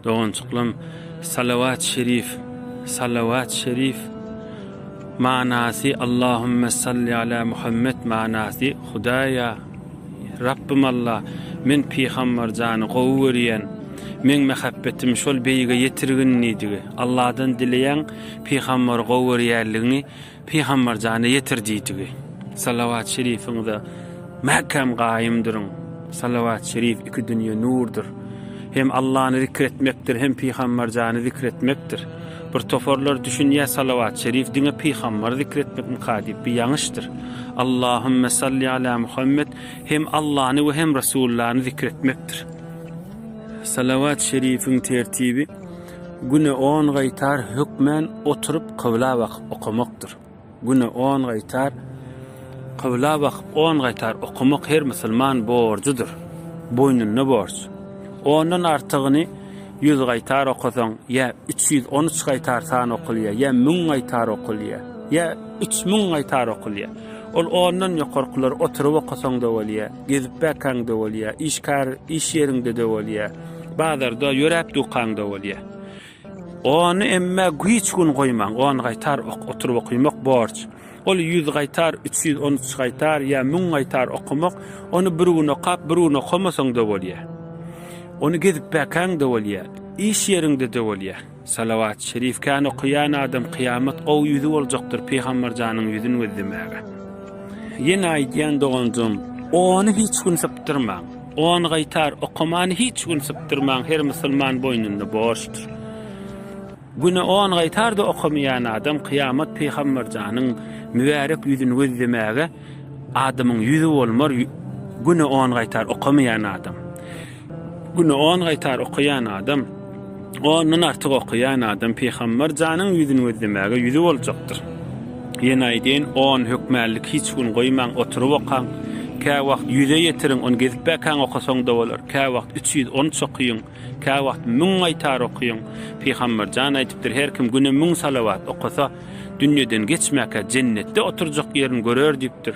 Doganjyklarym Salawat Şerif Salawat Şerif manasy Allahümme Salli Ala Muhammed manasy Hudaýa Rabbym Allah men Pygambar jany gowy görýän meň mähäbbetim şol beýige ýetirgin diýdigi Allahdan dileýäň Pygambary gowy görýänligiňi Pygambar jana ýetir diýdigi. Salawat şerifiňize mäkäm gaýym duruň. Salawat şerif iki dünýe nurdur. Hem Allany zikr etmekdir, hem Pygambar jany zikr etmekdir. Bir toparlar düşünýär salawat şerif diňe Pygambar zikr etmekmika diýip bu ýaňyşdyr. Allahümme salli ala Muhammed hem Allany we hem Resullany zikr etmekdir. Salawat şerifiň tertibi Güne on gaýtar hökmän oturyp kybla bakyp okamakdyr. Güne on gaýtar kybla bakyp on gaýtar okamak her musulman borjudyr. Boýnunda borç. Ondan artygyny ýüz gaýtar okasaň, ýa üç ýüz on üç gaýtar san okulýar, ýa müň gaýtar okulýar, ýa üç müň gaýtar okulýar. Ol ondan ýokarkylary oturyp okasaň-da bolýar. Gezip bakaňda bolýa, iş kar iş ýeriňdede bolýa, bazarda ýöräp dukaňda bolýa. Ony emme güýç gün goýmaň, on gaýtar ok oturyp okymak borç. Ol ýüz gaýtar, üç ýüz on üç gaýtar ýa müň gaýtar okamak, ony bir gün okap, bir gün okamasaňda bolýa. Ony gezip bakaňda bolýa, iş ýeriňdede bolýa. Salawat şerif kän okaýan adam kyýamat gowy ýüzi boljakdyr pygambar janyň ýüzin gözlemäge. Ýene aýdýan doganjygym ony hiç gün sypdyrmaň. On gaýtar okamany hiç gün sypdyrmaň her musulman boýnunda borçdur. Güne on gaýtar da okamaýan adam kyýamat pygambar janyň mübärek ýüzin gözlemäge adamyň ýüzi bolmar güne on gaýtar okamaýan adam. Güni on gaýtar okaýan adam, ondan artyk okaýan adam Pygamber janyň ýüzüni gözlemäge ýüzi boljakdyr. Ýene aýdýan, on hökmänlik hiç gün goýmaň, oturyp okaň. Kä wagt ýüze ýetiriň, ony gezip-bekäň okasaň-da bolar. Kä wagt üç ýüz on üç okyň, kä wagt müň gaýtar okyň. Pygamber jan aýdypdyr, her kim güne müň salawat okasa, dünýeden geçmäkä jennetde oturjak ýerini görer diýipdir.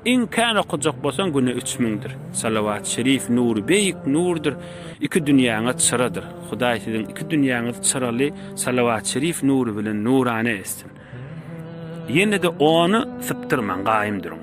Iň kän okajak bolsaň güne üç müňdir. Salawat şerif nury beýik nurdyr, iki dünýäňe çyradyr. Hudaý siziň iki dünýäňizi çyraly salawat şerif nury bilen nurana etsin. Ýene-de ony sypdyrmaň, gaýym duruň.